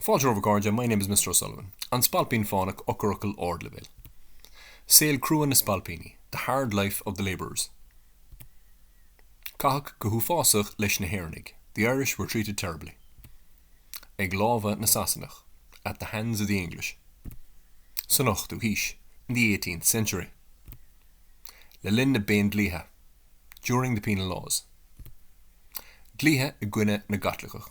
Fáilte romhaibh a chairde, my name is Mister O'Sullivan. An Spailpín Fánach Eochairfhocail ardleibhéil. Saol crua na spailpíní, the hard life of the labourers. Caitheadh go huafásach leis na hÉireannaigh, the Irish were treated terribly. Ag lámha na Sasanach, at the hands of the English. San ochtú haois, in the eighteenth century. Le linn na bPéindlíthe, during the Penal Laws. Dlíthe i gcoinne na gCaitliceach.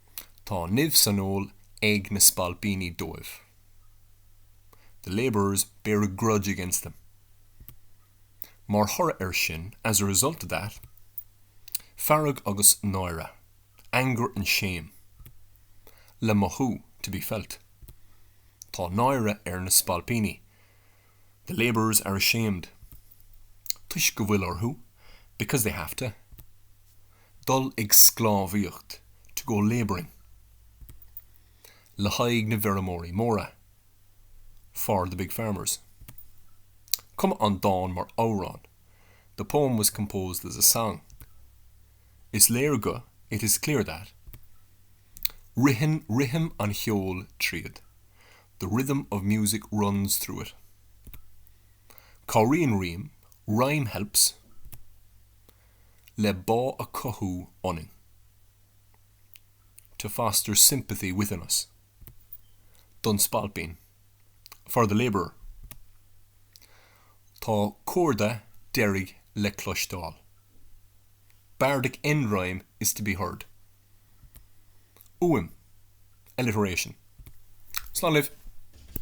Tá nimh san fheoil ag na spailpíní dóibh. The labourers bear a grudge against them. Mar thoradh air sin, as a result of that. Fearg agus náire, anger and shame. Le mothú, to be felt. Tá náire ar na spailpíní, the labourers are ashamed. Toisc go bhfuil orthu, because they have to. Dul ag sclábhaíocht, to go labouring. Le haghaidh na bhfeirmeoirí móra, for the big farmers. Cumadh an dán mar amhrán, the poem was composed as a song. Is léir go, it is clear that. Ritheann rithim an cheoil tríd, the rhythm of music runs through it. Cabhraíonn rím, rhyme helps. le bá a chothú ionainn, to foster sympathy within us, don spailpín, for the labourer. Tá comhardadh deiridh le cloisteáil. Bardic end rhyme is to be heard. Uaim, alliteration. Slán libh!